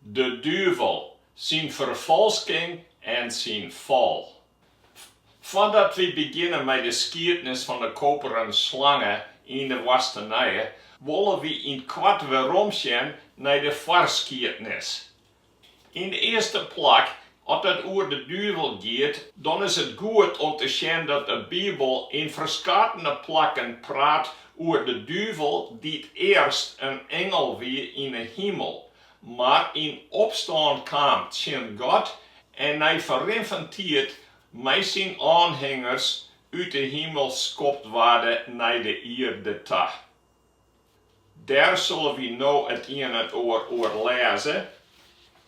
De duvel, syn ferfalsking en syn fal. Foardat wy begjinne mei de skiednis fan de koperen slange yn de woastenije, wolle wy yn it koart weromsjen nei de foarskiednis. Yn de earste plak, as it oer de duvel giet, dan is it goed om te sjen dat de Bibel yn ferskatene plakken praat oer de duvel dy't earst in ingel wie yn de himel, Mar yn opstân kaam tsjin God en nei ferrin fan tiid mei syn oanhingers út de himel skopt waarde nei de ierde ta. Dêr sille wy no it ien en oar oer lêze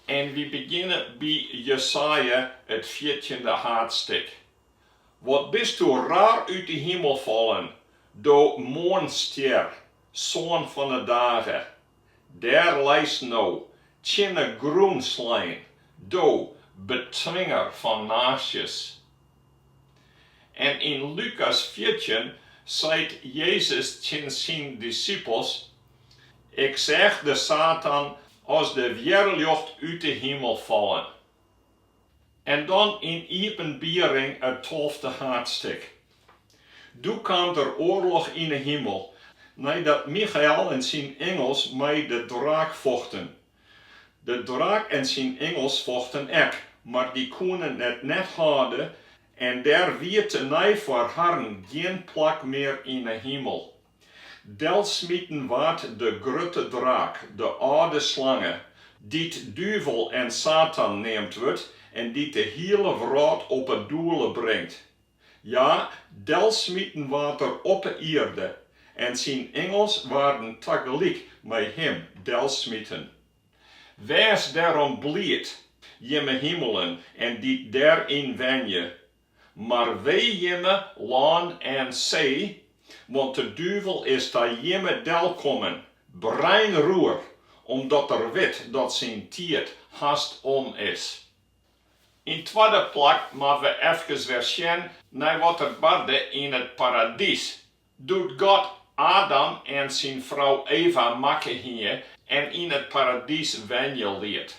en wy begjinne by Jesaja it fjirtjinde haadstik. Wat bisto rar út de himel fallen, do moarnsstjer! Soan fan 'e dage, dêr leist no, tsjin 'e grûn slein, do, betwinger fan naasjes. En yn Lukas fjirtjin seit Jezus tsjin syn disipels, Ik seach de Satan as de wjerljocht út 'e himel fallen. En dan yn Iepenbiering it tolfte haadstik. Doe kaam der oarloch yn 'e himel, neidat Michael en syn ingels mei de draak fochten. De draak en syn ingels fochten ek, mar dy koenen it net hâlde en der wie tenei foar harren gjin plak mear yn 'e himel. Delsmiten waard de grutte draak, de âlde slange, dy't duvel en Satan neamd wurdt en dy't de hiele wrâld op 'e doele bringt. Ja, delsmiten waard er op 'e ierde, en syn ingels waarden tagelyk mei him delsmiten. Wês dêrom bliid, jimme himelen en dy't dêryn wenje, Mar wee jimme lân en see, want de duvel is ta jimme delkommen, breinroer, omdat er wit dat syn tiid hast om is. Yn twadde plak moatte we efkes wer sjen nei wat der barde yn it paradys, doe't God Adam en syn frou Eva makke hie en yn it paradys wenje liet.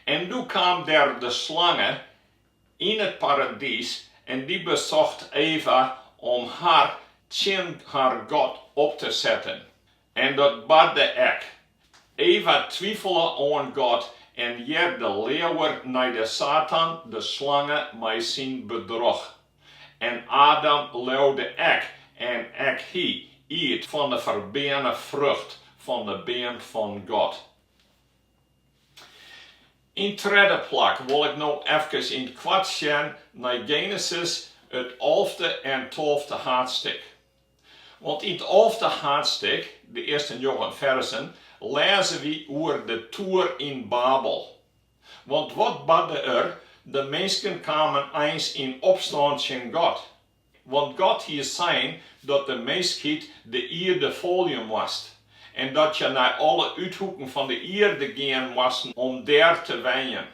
En doe kaam dêr de slange Yn it paradys en dy besocht Eva om har tsjin har God op te setten. En dat barde ek. Eva twifele oan God en hearde leaver nei de Satan, de slange, mei syn bedroch. En Adam leaude ek en ek hy iet fan de ferbeane frucht fan de beam fan God. Yn 't tredde plak wol ik no efkes yn it koart sjen nei Genesis, it alfde en tolfde haadstik. Want yn it alfde haadstik, de earste njoggen ferzen, lêze wy oer de toer yn Babel. Want wat barde der, de minsken kamen eins yn opstân tsjin God. Want God hie sein dat de minskheid de ierde folje moast, en dat hja nei alle úthoeken fan de ierde gean moasten om dêr te wenjen.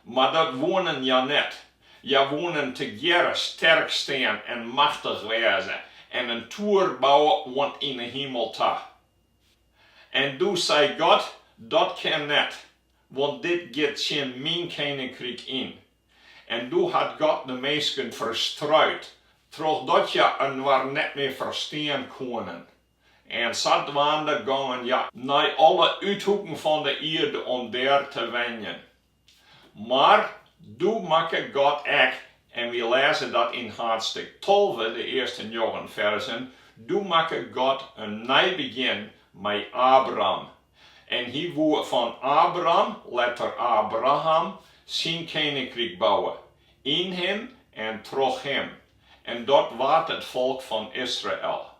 Mar dat woenen hja net. Hja woenen tegearre sterk stean en machtich wêze en in toer bouwe oant yn 'e himel ta. En doe sei God, Dat kin net, want dit giet tsjin myn keninkryk yn. En doe hat God de minsken ferstruid, trochdat hja inoar net mear ferstean koenen. En sadwaande gongen hja nei alle úthoeken fan de ierde om dêr te wenjen. Mar doe makke God ek, en wy lêze dat yn haadstik tolve, de earste njoggen ferzen, doe makke God in nij begjin mei Abram, En hy woe fan Abram, letter Abraham, syn keninkryk bouwe, yn him en troch him, en dat waard it folk fan Israel.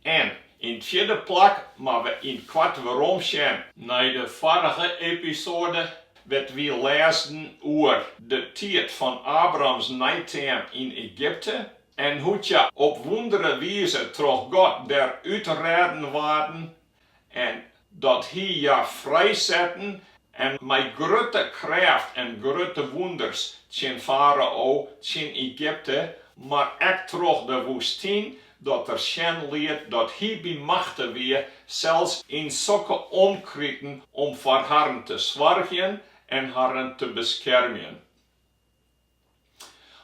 En yn it fjirde plak moatte we yn it koart werom sjen nei de foarige episode wêr't wy lêsden oer de tiid fan Abrahams neiteam yn Egypte, En hoe't hja op wûndere wize troch God derút rêden waarden, en dat Hy hja frijsette en mei grutte krêft en grutte wûnders tsjin Farao, tsjin Egypte, mar ek troch de woestyn, dat er sjen liet dat Hy by machte wie sels yn sokke omkriten om foar harren te soargjen en harren te beskermjen.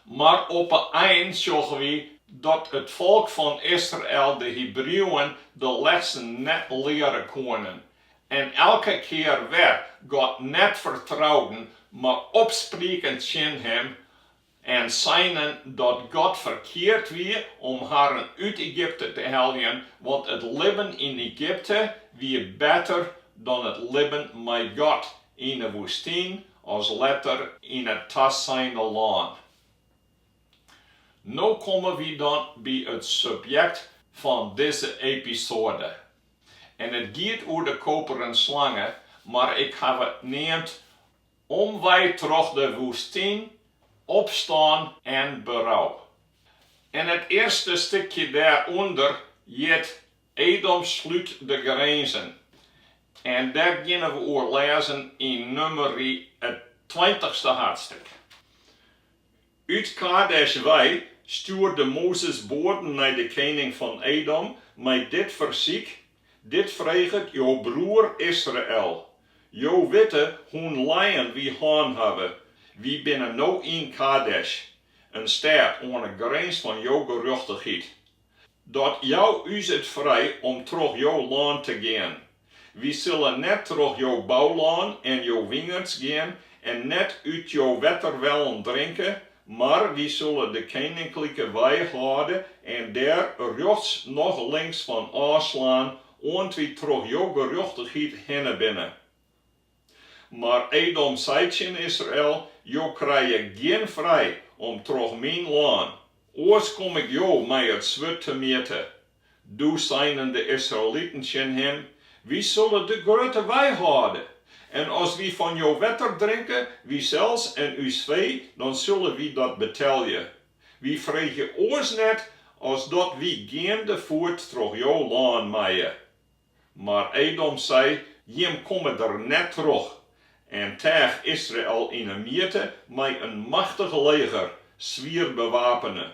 Mar op 'e ein sjogge wy dat it folk fan Israel de Hebrieuwen de lessen net leare koenen en elke kear wer God net fertrouden, mar opsprieken tsjin Him en seinen dat God ferkeard wie om harren út Egypte te heljen, want it libben yn Egypte wie better dan it libben mei God yn 'e woestyn as letter yn it taseine lân. No komme wy dan by it subjekt fan dizze episode. En it giet oer de koperen slange, mar ik haw it neamd Omwei troch de woestyn, Opstân en berou. En it earste stikje dêrûnder hjit Edom slút de grinzen. En dêr geane we oer lêzen yn Numeri it tweintichste haadstrik. Ut Kadesh wei stjoerde Mozes boaden nei de kening fan Edom mei dit fersyk, Dit freget jo broer Israel, Jo witte hoe'n lijen wy hân hawwe, wy binne no yn Kadesh, in stêd oan 'e grins fan jo gerjochtichheid. Dat jou ús it frij om troch Jo lân te gean. Wy sille net troch Jo boulân en Jo wingerds gean en net út Jo wetterwellen drinke, mar wy sille de keninklike wei hâlde en dêr rjochts noch links fan ôfslaan, oant wy troch Jo gerjochtichheid hinne binne. Mar Edom sei tsjin Israel, Jo krije gjin frij om troch myn lân, oars kom ik jo mei it swurd temjitte. Doe seinen de Israeliten tsjin him, Wy sille de grutte wei hâlde, en as wy fan jo wetter drinke, wysels en ús fee, dan sille wy dat betelje. Wy freegje oars net as dat wy geandefoet troch jo lân meie. Mar Edom sei, Jim komme der net troch, en teach Israel yn 'e mjitte mei in machtich leger, swier bewapene.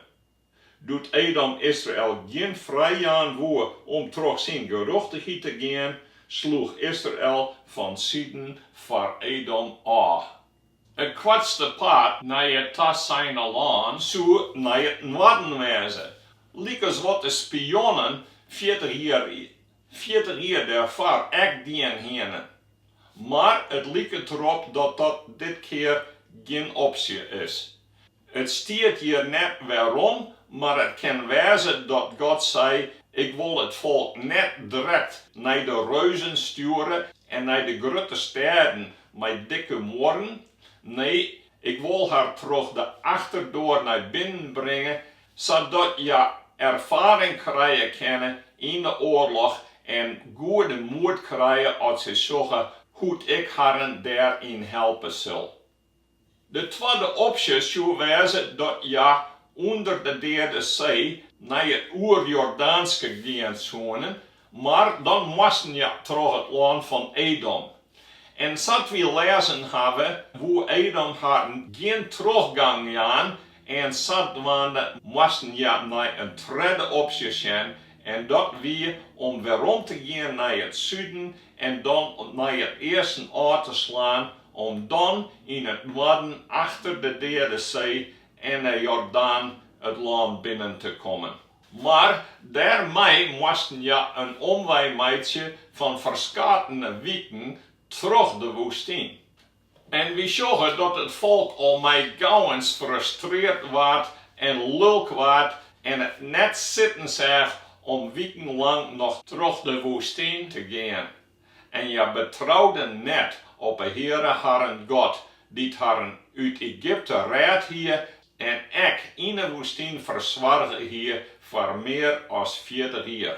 Doe't Edom Israel gjin frij jaan woe om troch syn gerjochtichheid te gean, sloech Israel fansiden foar Edom ôf. It koartste pad nei it taseine lân soe nei it noarden wêze, lykas wat de spionnen fjirtich jier dêrfoar ek dien hiene. Mar it liket derop dat dat dit kear gjin opsje is. It stiet hjir net wêrom, mar it kin wêze dat God sei, Ik wol it folk net drekt nei de reuzen stjoere en nei de grutte stêden mei dikke muorren. Nee, Ik wol har troch de achterdoar nei binnen bringe, sadat hja erfaring krije kinne yn de oarloch en goede moed krije as se sjogge hoe't Ik harren dêr yn helpe sil. De twadde opsje soe wêze dat hja ûnder de Deade See nei it Oerjordaanske gean soene, mar dan moasten hja troch it lân fan Edom. En sa't wy lêzen hawwe, woe Edom harren gjin trochgang jaan en sadwaande moasten hja nei in tredde opsje sjen en dat wie om werom te gean nei it suden en dan nei it easten ôf te slaan om dan yn it noarden achter de Deade See en de Jordaan it lân binnen te kommen. Mar dêrmei moasten hja in omwei meitsje fan ferskatene wiken troch de woestyn. En wy sjogge dat it folk al mei gauwens frustreard waard en lulk waard en it net sitten seach om wikenlang noch troch de woestyn te gean. En hja betrouwden net op 'e Heare harren God, dy't harren út Egypte rêd hie en ek yn 'e woestyn fersoarge hie foar mear as fjirtich jier.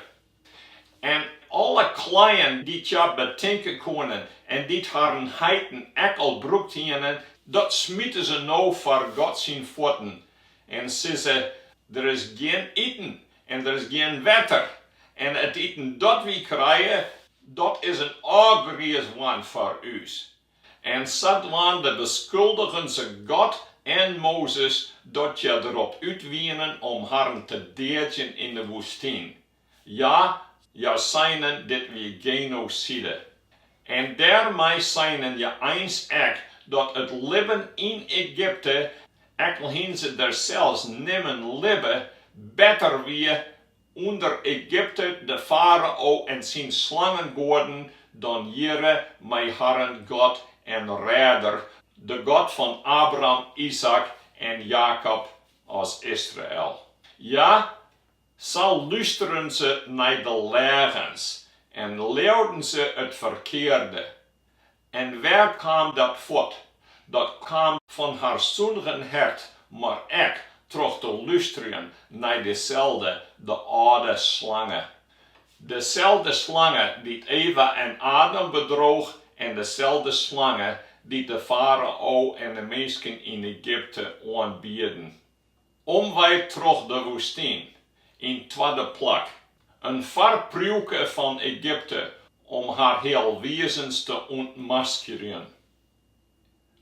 En alle kleien dy't hja betinke koenen en dy't harren heiten ek al brûkt hiene, dat smite se no foar God syn fuotten en sizze, Der is gjin iten En der is gjin wetter. En it iten dat wy krije, dat is in ôfgriis dwaan foar ús. En sadwaande beskuldigen se God en Mozes dat hja derop út wienen om harren te deadzjen yn de woestyn. Ja, hja seinen, Dit wie genoside. En dêrmei seinen hja eins ek dat it libben yn Egypte, ek al hienen se der sels nimmen libbe, better wie ûnder Egypte de farao en syn slangegoaden dan hjirre mei harren God en Rêder, de God fan Abraham, Izaäk en Jakob as Israel. Ja, Sa lústeren se nei de leagens en leauden se it ferkearde. En wêr kaam dat fuort? Dat kaam fan har sûndige hert, mar ek troch te lústerjen nei deselde, de âlde slange. Deselde slange dy't Eva en Adam bedroech en deselde slange dy't de farao en de minsken yn Egypte oanbidden. Omwei troch de woestyn. Yn twadde plak, in foarpriuwke fan Egypte om har healwizens te ûntmaskerjen.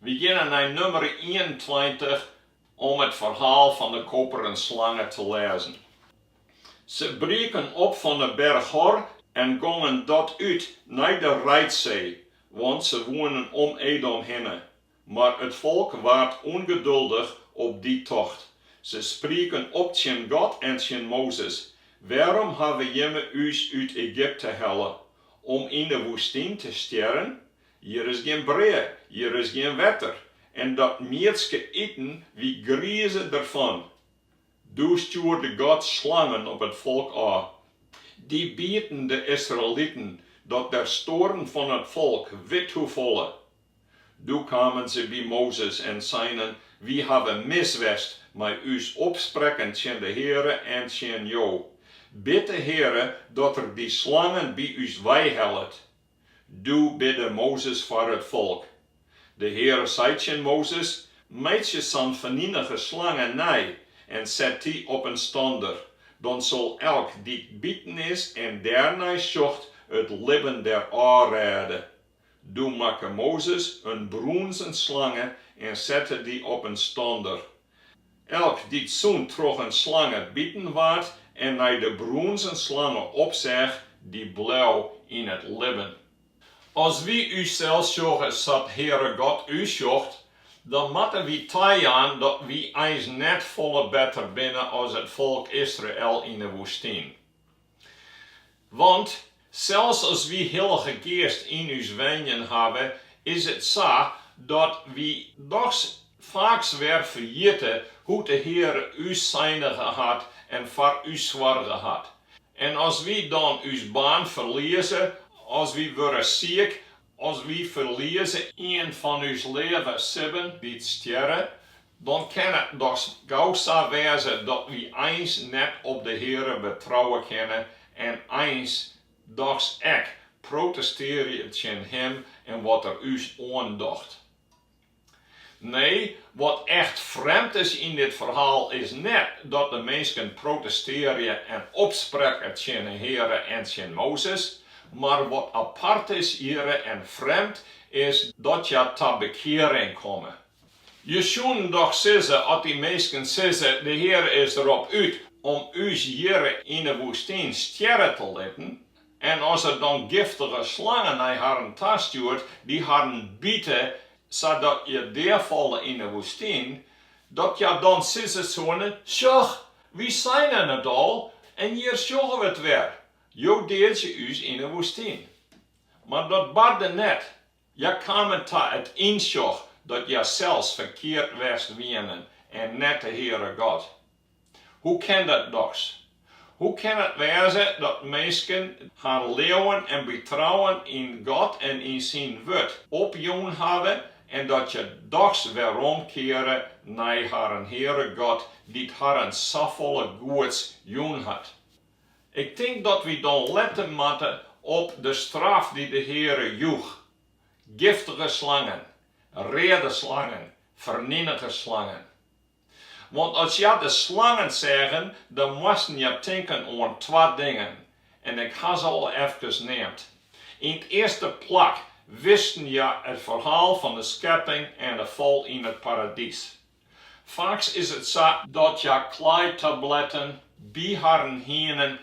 Wy geane nei Numeri ienentweintich om it ferhaal fan de koperen slange te lêzen. Se brieken op fan 'e berch Hor en gongen dat út nei de Reidsee, want se woenen om Edom hinne, Mar it folk waard ûngeduldich op dy tocht. Se sprieken op tsjin God en tsjin Mozes, Wêrom hawwe jimme ús út Egypte helle, om yn 'e woestyn te stjerren? Hjir is gjin brea, hjir is gjin wetter, en dat miedske iten wy grieze derfan. Doe stjoerde God slangen op it folk ôf. Dy bieten de Israeliten dat der stoarren fan it folk withoefolle Doe kamen se by Mozes en seinen, Wy hawwe mis west mei ús opsprekken tsjin de Heare en tsjin jo. Bid de Heare dat Er dy slangen by ús weihellet. Doe bidde Mozes foar it folk. De Heare sei tsjin Mozes, Meitsje sa'n feninige slange nei en set dy op in stander, dan sil elk dy't biten is en dêrnei sjocht it libben der ôfrêde. Doe makke Mozes in brûnzen slange en sette dy op in stander. Elk dy't sûnt troch in slange biten waard en nei de brûnzen slange opseach, dy bleau yn it libben. As wy ússels sjogge sa't Heare God ús sjocht, dan moatte wy tajaan dat wy eins net folle better binne as it folk Israel yn 'e woestyn. Want sels as wy Hillige Geast yn ús wenjen hawwe, is it sa dat wy dochs faaks wer ferjitte hoe't de Heare ús seinige hat en foar ús soarge hat. En as wy dan ús baan ferlieze, as wy wurde siik, As wy ferlieze ien fan ús leave sibben dy't stjerre, dan kin it dochs gau sa wêze dat wy eins net op de Heare betrouwe kinne en eins dochs ek protestearje tsjin Him en wat Er ús oandocht. Nee, wat echt frjemd is yn dit ferhaal is net dat de minsken protestearje en opsprekke tsjin 'e Heare en tsjin Mozes, mar wat apart is hjirre en frjemd is dat hja ta bekearing komme. Je soenen dochs sizze at dy minsken sizze, De Heare is derop út om ús hjirre yn 'e woestyn stjerre te litten, En as er dan giftige slangen nei harren ta stjoert, dy't harren bite, sadat hja deafalle yn 'e woestyn, dat hja dan sizze soene, Sjoch, wy seinen it al, en hjir sjogge we it wer, Jo deadzje ús yn 'e woestyn. Mar dat barde net, Hja kamen ta it ynsjoch dat hja sels ferkeard west wienen en net de Heare God. Hoe kin dat dochs? Hoe kin it wêze dat minsken harren leauwen en betrouwen yn God en yn Syn Wurd opjûn hawwe en dat hja dochs weromkeare nei harren Heare God dy't harren safolle goeds jûn hat? Ik tink dat wy dan letten moatte op de straf dy't de Heare joech, giftige slangen, reade slangen, fernienige slangen. Want as hja de slangen seagen, dan moasten hja tinken oan twa dingen, en ik ha se al efkes neamd. Yn 't earste plak wisten hja it ferhaal fan de skepping en de fal yn it paradys. Faaks is it sa dat hja klaaitabletten by harren hienen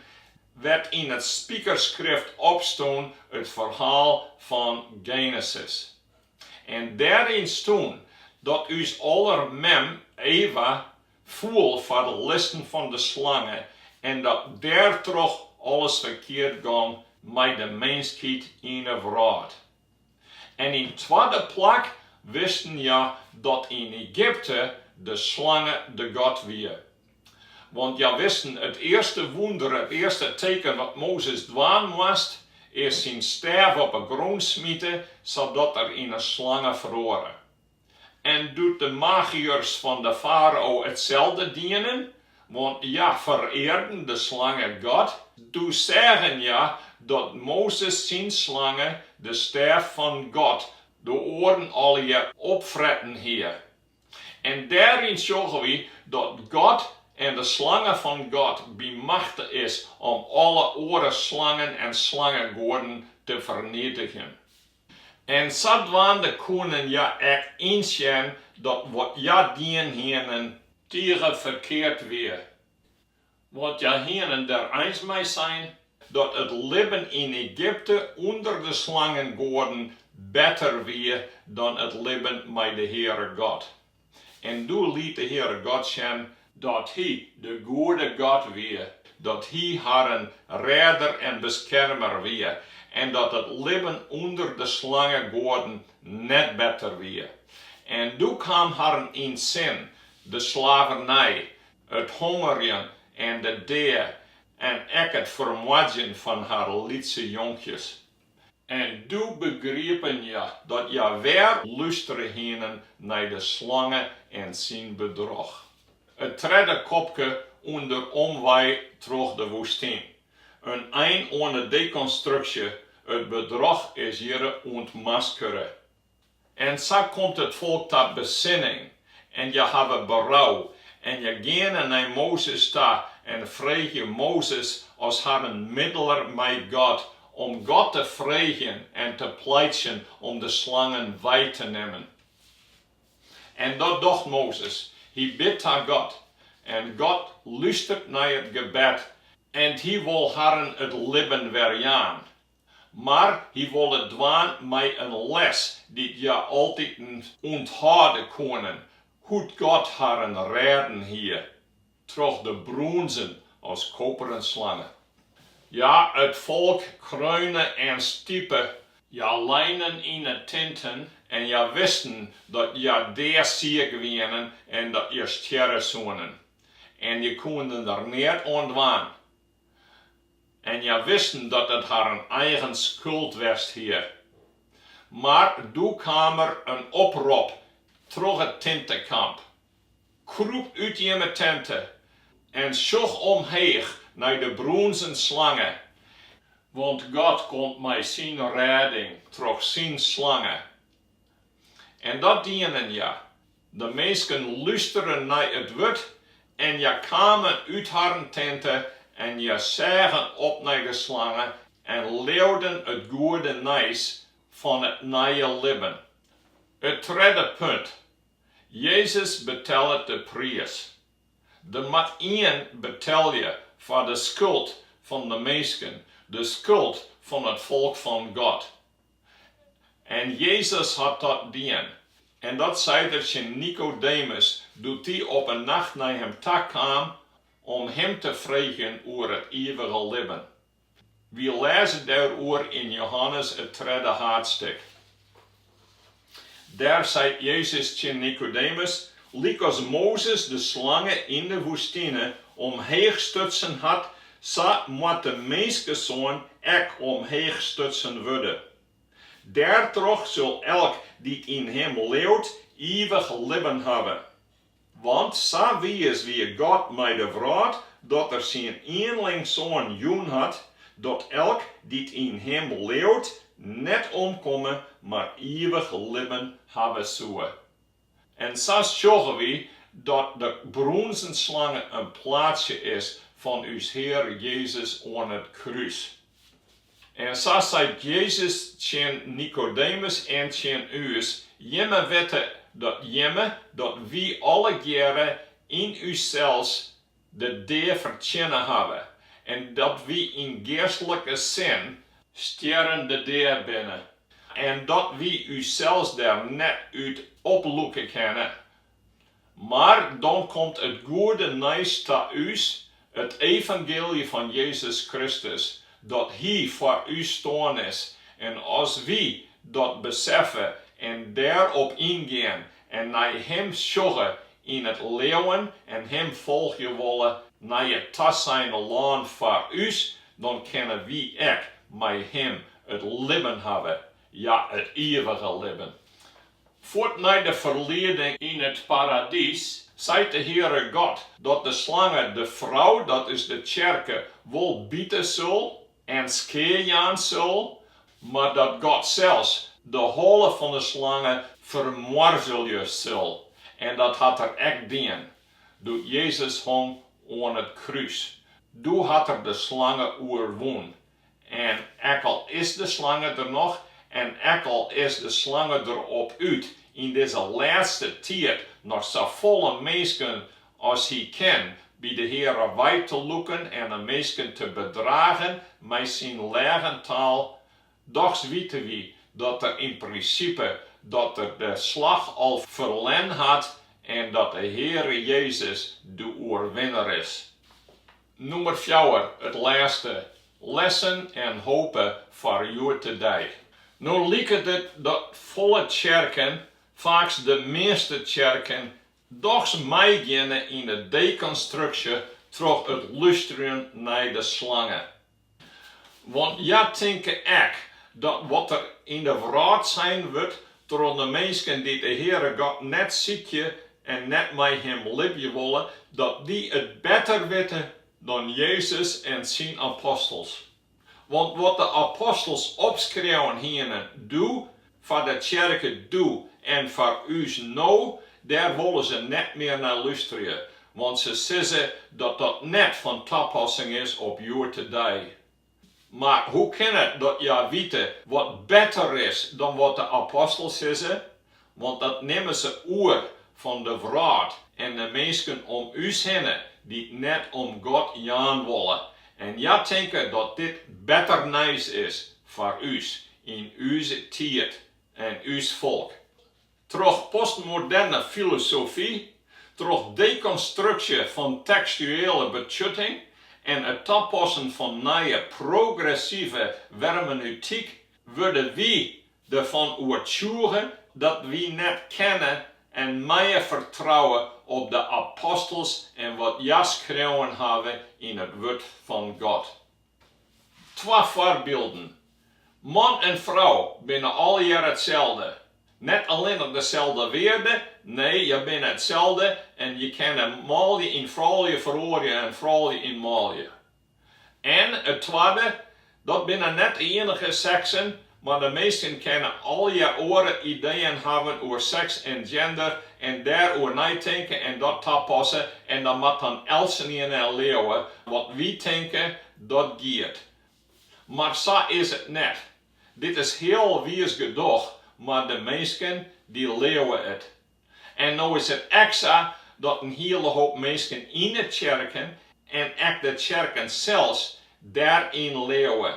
wêr't yn it spikersskrift opstûn it ferhaal fan Genesis. En dêryn stûn dat ús aller mem Eva foel foar de listen fan de slange en dat dêrtroch alles ferkeard gong mei de minskheid yn 'e wrâld. En yn twadde plak wisten hja dat yn Egypte de slange de god wie. Want hja wisten, it earste wûnder, it earste teken wat Mozes dwaan moast, is syn stêf op 'e grûn smite sadat dy't yn in slange feroare. En doe't de magiërs fan de farao itselde dienen, want hja ferearden de slangegod, doe seagen hja dat Mozes syn slange de stêf fan God de oaren allegear opfretten hie. En dêryn sjogge wy dat God en de slange fan God by machte is om alle oare slangen en slangegoaden te fernietigjen. En sadwaande koenen hja ek ynsjen dat wat hja dien hienen tige ferkeard wie. Want hja hienen der eins mei sein dat it libben yn Egypte ûnder de slangengoaden better wie dan it libben mei de Heare God. En doe liet de Heare God sjen dat Hy de goede God wie, dat Hy harren Rêder en Beskermer wie, en dat it libben ûnder de slangegoaden net better wie. En doe kaam harren yn sin, de slavernij, it hongerjen en de dea, en ek it fermoardzjen fan har lytse jonkjes. En doe begriepen hja dat hja wer lústere hienen nei de slange en syn bedroch. It tredde kopke ûnder omwei troch de woestyn. In ein oan 'e dekonstruksje, it bedroch is hjirre ûntmaskere. En sa komt it folk ta besinning, en hja hawwe berou, en hja geane nei Mozes ta en freegje Mozes as harren middeler mei God, om God te freegjen en te pleitsjen om de slangen wei te nimmen. En dat docht Mozes, hy bidt ta God, en God lustert nei it gebed, en hy wol harren it libben werjaan, mar hy wol it dwaan mei in les dy't hja altyd ûnthâlde koene, hoe't God harren rêden hie troch de brûnzen as koperen slange. Ja, it folk kreune en stipe, hja leinen yn 'e tinten en hja wisten dat hja deasiik wienen en dat hja stjerre soenen, en hja koene der neat oan dwaan, en hja wisten dat it harren eigen skuld west hie. Mar doe kaam der in oprop troch it tintekamp, Krûp út jimme tinte en sjoch omheech nei de brûnzen slange, want God komt mei syn rêding troch syn slange. En dat dienen hja. De minsken lústerden nei it wurd en hja kamen út harren tinte en hja seagen op nei de slange en leauden it goede nijs fan it nije libben. It tredde punt, Jezus betellet de priis. Der mat ien betelje foar de skuld fan de minsken, de skuld fan it folk fan God. En Jezus hat dat dien. En dat seit er tsjin Nikodemus, doe't dy op in nacht nei him ta kaam om him te freegjen oer it ivige libben. Wy lêze dêroer yn Johannes it tredde haadstik. Dêr seit Jezus tsjin Nikodemus, Lykas Mozes de slange yn de woestine omheech stutsen hat, sa moat de Minskesoan ek omheech stutsen wurde. Dêrtroch sil elk dy't yn him leauwt, ivich libben hawwe. Want sa wiis wie God mei de wrâld, dat Er syn ienling Soan jûn hat, dat elk, dy't yn Him leauwt, net omkomme, mar ivich libben hawwe soe. En sa sjogge wy dat de brûnzen slange in plaatsje is fan ús Hear Jezus oan it krús. En sa seit Jezus tsjin Nikodemus en tsjin ús, Jimme witte dat jimme, dat wy allegearre yn ússels de dea fertsjinne hawwe, en dat wy yn geastlike sin, stjerrende dea binne, en dat wy ússels der net út oplûke kinne, Mar dan komt it goede nijs ta ús, it evangeelje fan Jezus Kristus, dat Hy foar ús stoarn is. En as wy dat beseffe en dêrop yngean en nei Him sjogge yn it leauwen en Him folgje wolle nei it taseine lân foar ús, dan kinne wy ek mei Him it libben hawwe Ja, it iivige libben. Fuort nei de ferlieding yn it paradys seit de Heare God dat de slange de frou, dat is de tsjerke, wol bite sil en skea jaan sil, mar dat God sels de holle fan de slange fermoarzelje sil. En dat hat er ek dien, doe't Jezus hong oan it krús. Doe hat er de slange oerwûn. En ek al is de slange der noch, en ek al is de slange der op út yn dizze lêste tiid noch safolle minsken as hy kin by de Heare wei te lûken en de minsken te bedragen mei syn leagentaal, dochs wite wy dat er yn prinsipe dat er de slach al ferlern hat en dat de Heare Jezus de oerwinner is. Nûmer fjouwer, it lêste, Lessen en hope foar hjoed-de-dei. No liket it dat folle tsjerken, faaks de measte tsjerken, dochs meigeane yn de dekonstruksje troch it lústerjen nei de slange. Want hja tinke ek, dat wat der yn de wrâld sein wurdt troch de minsken dy't de Heare God net sykje en net mei Him libje wolle, dat dy it better witte dan Jezus en syn apostels. Want wat de apostels opskreaun hiene, doe Foar de tsjerke doe en foar ús no, dêr wolle se net mear nei lústerje, want se sizze dat dat net fan tapassing is op hjoed-de-dei. Mar hoe kin it dat hja wite wat better is dan wat de apostels sizze? Want dat nimme se oer fan de wrâld en de minsken om ús hinne, dy't net om God jaan wolle. En hja tinke dat dit better nijs is foar ús, yn ús tiid en ús folk. Troch postmoderne filosofy, troch dekonstruksje fan tekstuele betsjutting en it tapassen fan nije progressive hermeneutyk wurde wy derfan oertsjûge dat wy net kinne en meie fertrouwe op de apostels en wat hja skreaun hawwe yn it Wurd fan God. Twa foarbylden. Man en frou binne alhiel itselde. Net allinnich deselde wearde, nee, hja binne itselde en je kinne manlju yn froulju feroarje en froulju yn manlju. En it twadde, dat binne net de ienige seksen, Mar de minsken kinne allegear oare ideeën hawwen oer seks en gender en dêr oer neitinke en dat tapasse en dan moat dan eltsenien leauwe wat wy tinke dat giet. Mar sa is it net. Dit is healwiis gedoch mar de minsken dy leauwe it. En no is it ek sa dat in hiele hoop minsken yn 'e tsjerken en ek de tsjerken sels dêryn leauwe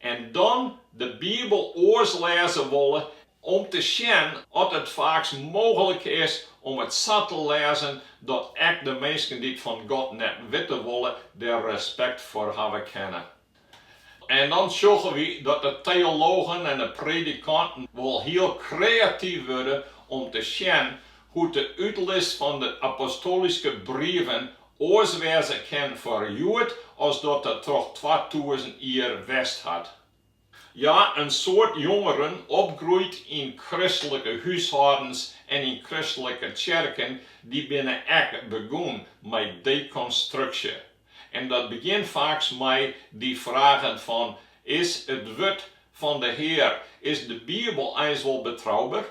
en dan de Bibel oars lêze wolle om te sjen oft it faaks mooglik is om it sa te lêzen dat ek de minsken dy't fan God net witte wolle der respekt foar hawwe kinne. En dan sjogge wy dat de teologen en de predikanten wol hiel kreatyf wurde om te sjen hoe't de útlis fan de apostoalyske brieven oars wêze kin foar hjoed as dat it troch twatûzen jier west hat. Ja, in soad jongeren, opgroeid yn kristlike húshâldens en yn kristlike tsjerken, dy binne ek begûn mei dekonstruksje. En dat begjint faaks mei dy fragen fan, Is it wurd fan de Hear, is de Bibel eins wol betrouber?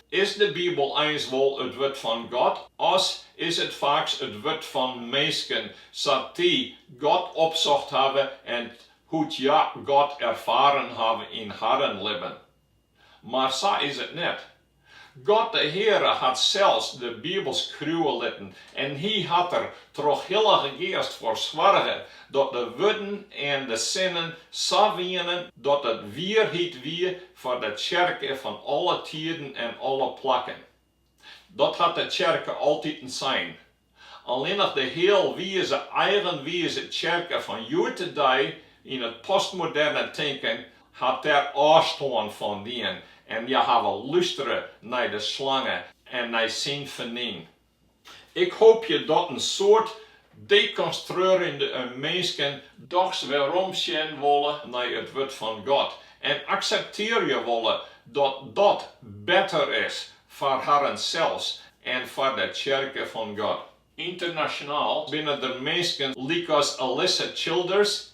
Is de Bibel eins wol it wurd fan God, as is it faaks it wurd fan minsken, sa't dy God opsocht hawwe en hoe't hja God erfaren hawwe yn harren libben? Mar sa is it net. God de Heare hat sels de Bibel skriuwe litten en Hy hat der troch Hillige Geast foar soarge dat de wurden en de sinnen sa wienen dat it wierheid wie foar de tsjerke fan alle tiden en alle plakken. Dat hat de tsjerke altiten sein. Allinnich de healwize, eigenwize tsjerke fan hjoed-de-dei yn it postmoderne tinken hat dêr ôfstân fan dien en hja hawwe lústere nei de slange en nei syn fernyn. Ik hoopje dat in soad dekonstruearjende minsken dochs werom sjen wolle nei it Wurd fan God en akseptearje wolle dat dat better is foar harren sels en foar de Tsjerke fan God. Ynternasjonaal binne der minsken lykas Alisa Childers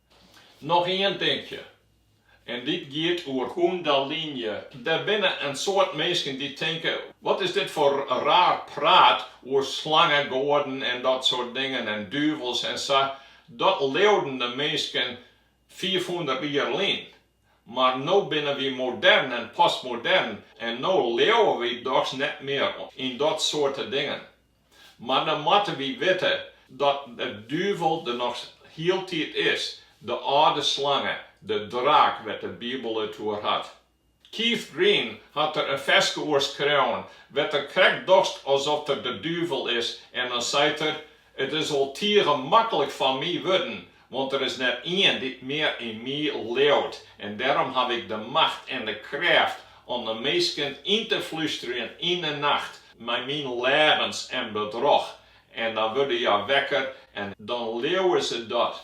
Noch ien dinkje, en dit giet oer kundalini. Der binne in soad minsken dy't tinke, wat is dit foar raar praat oer slangegoaden en dat soart dingen en duvels en sa, dat leauden de minsken fiifhûndert jier lyn. Mar no binne wy modern en postmodern en no leauwe wy dochs net mear yn dat soarte dingen. Mar dan moatte wy witte dat de duvel der noch hieltyd is, de âlde slange, de draak wêr't de Bibel it oer hat. Keith Green hat der in ferske oer skreaun, wêr't er krekt docht asoft er de duvel is en dan seit er, It is wol tige maklik foar my wurden, Want der is net ien dy't mear yn my leaut, en dêrom haw ik de macht en de krêft om de minsken yn te flusterjen yn 'e nacht mei myn leagens en bedrog, en dan wurde hja wekker en dan leauwe se dat.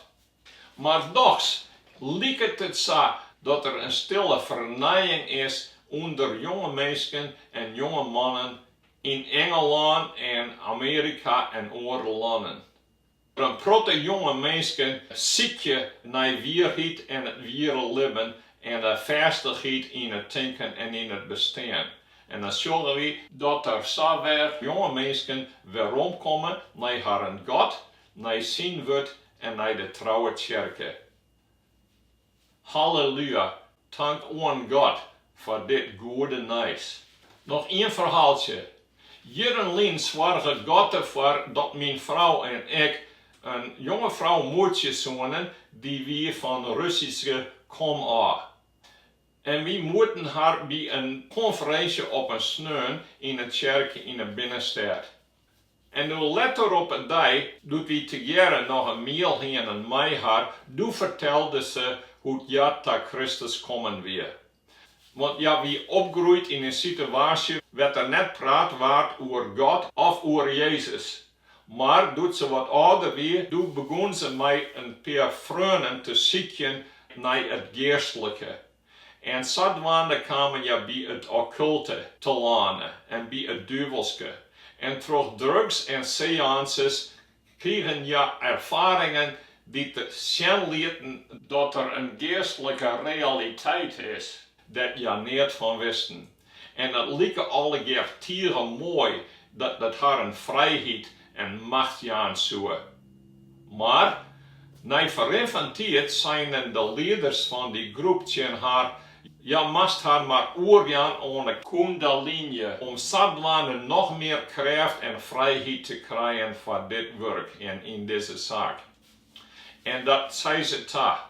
Mar dochs liket it sa dat der in stille fernijing is ûnder jonge minsken en jonge mannen yn Ingelân en Amearika en oare lannen. In protte jonge minsken sykje nei wierheid en it wiere libben en de fêstichheid yn it tinken en yn it bestean. En dan sjogge wy dat der sa wer jonge minsken weromkomme nei harren God, nei Syn Wurd en nei de trouwe Tsjerke. Hallelua, tank oan God foar dit goede nijs. Noch ien ferhaaltsje. Jierren lyn soarge God derfoar dat myn frou en ik in jonge frou moetsje soene, dy wie fan Russyske komôf. En wy moetten har by in konferinsje op in sneon yn in tsjerke yn 'e binnenstêd En doe letter op in dei, doe't wy tegearre noch in miel hienen mei har, doe fertelde se hoe't hja ta Kristus kommen wie. Want hja wie opgroeid yn in sitewaasje wêr't der net praat waard oer God of oer Jezus. Mar doe't se wat âlder wie, doe begûn se mei in pear freonen te sykjen nei it geastlike. En sadwaande kamen hja by it okkulte telâne en by it duvelske, en troch drugs en seances krigen hja erfaringen dy't sjen lieten, dat der in geastlike realiteit is dêr't hja neat fan wisten, En dat like allegear tige moai dat it harren frijheid en macht jaan soe. Mar, nei ferrin fan tiid seinen de lieders fan dy groep tsjin har, hja moast har mar oerjaan oan 'e Koendalinje om sadwaande noch mear krêft en frijheid te krijen foar dit wurk en yn dizze saak. En dat sei se ta.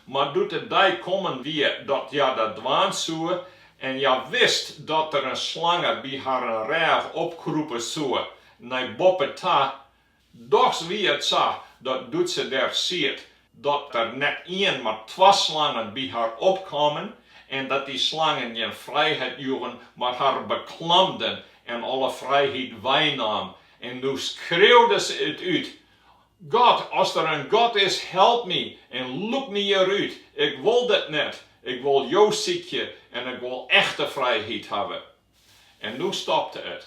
Mar doe't de dei kommen wie dat hja dat dwaan soe, en hja wist dat der in slange by harren rêch opkrûpe soe nei boppe ta, dochs wie it sa dat doe't se dêr siet, dat der net ien, mar twa slangen by har opkamen, en dat dy slangen gjin frijheid joegen, mar har beklamden en alle frijheid weinaam, en no skreaude se it út, God, as der in God is, help my en lûk my hjirút. Ik wol dit net. Ik wol Jo sykje en ik wol echte frijheid hawwe. En no stopte it.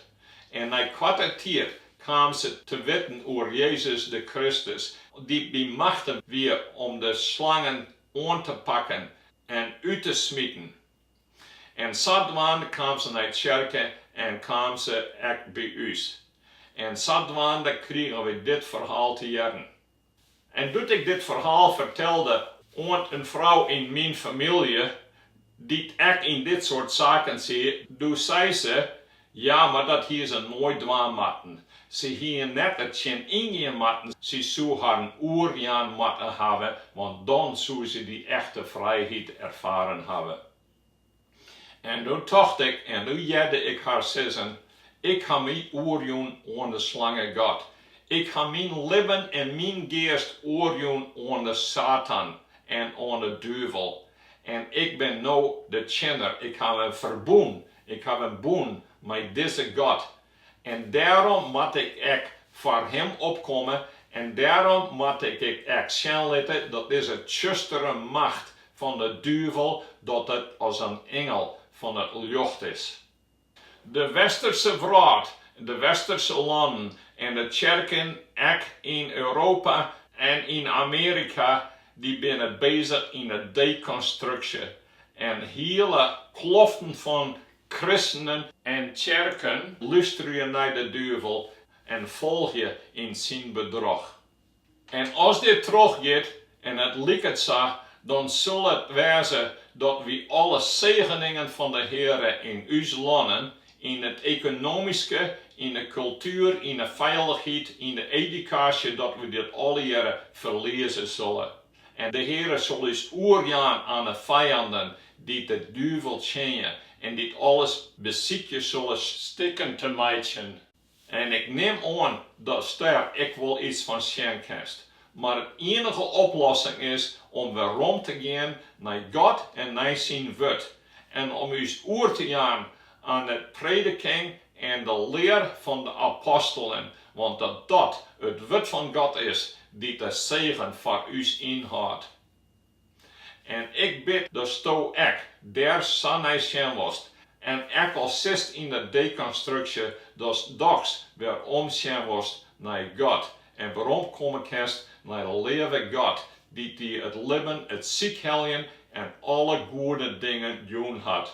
En nei koarte tiid kaam se te witten oer Jezus de Kristus, dy't by machte wie om de slangen oan te pakken en út te smiten. En sadwaande kaam se nei tsjerke en kaam se ek by ús. En sadwaande krigen wy dit ferhaal te hearren. En doe't ik dit ferhaal fertelde oan in frou yn myn famylje, dy't ek yn dit soart saken siet, doe sei se, Ja, mar dat hie se noait dwaan moatten. Se hie net dertsjin yngean moatten, sy soe harren oerjaan moatte hawwe, want dan soe se dy echte frijheid erfaren hawwe. En doe tocht ik en doe hearde ik har sizzen, Ik ha my oerjûn oan de Slangegod. Ik ha myn libben en myn geast oerjûn oan de Satan en oan de duvel. En ik bin no de tsjinner, ik haw in ferbûn Ik haw in bûn mei dizze God en dêrom moat ik ek foar Him opkomme en dêrom moat ik ik ek sjen litte dat dizze tsjustere macht fan de duvel dat it as in ingel fan it ljocht is. De Westerse wrâld, de Westerse lannen en de tsjerken ek yn Europa en yn Amearika dy binne bezich yn 'e dekonstruksje En hiele kloften fan kristenen en tsjerken lusterje nei de duvel en folgje yn syn bedrog. En as dit trochgiet, en it liket sa, dan sil it wêze dat wy alle segeningen fan de Heare yn ús lannen, yn it ekonomyske, yn de kultuer, yn de feilichheid, yn de edukaasje, dat wy dit allegearre ferlieze sille. En de Heare sil ús oerjaan aan 'e fijanden, dy't de duvel tsjinje en dy't alles besykje solle stikken te meitsjen. En ik nim oan datst dêr ek wol iets fan sjen kinst. Mar it ienige oplossing is om werom te gean nei God en nei syn Wurd, en om ús oer te jaan aan 'e prediking en de lear fan de apostelen, want dat dat it wurd fan God is, dy't de segen foar ús ynhâldt. En ik bid datsto ek dêr sa nei sjen wolst, en ek al sitst yn de dekonstruksje, datst dochs werom sjen wolst nei God en werom komme kinst nei de leave God, dy't dy it libben, it sykheljen en alle goede dingen jûn hat.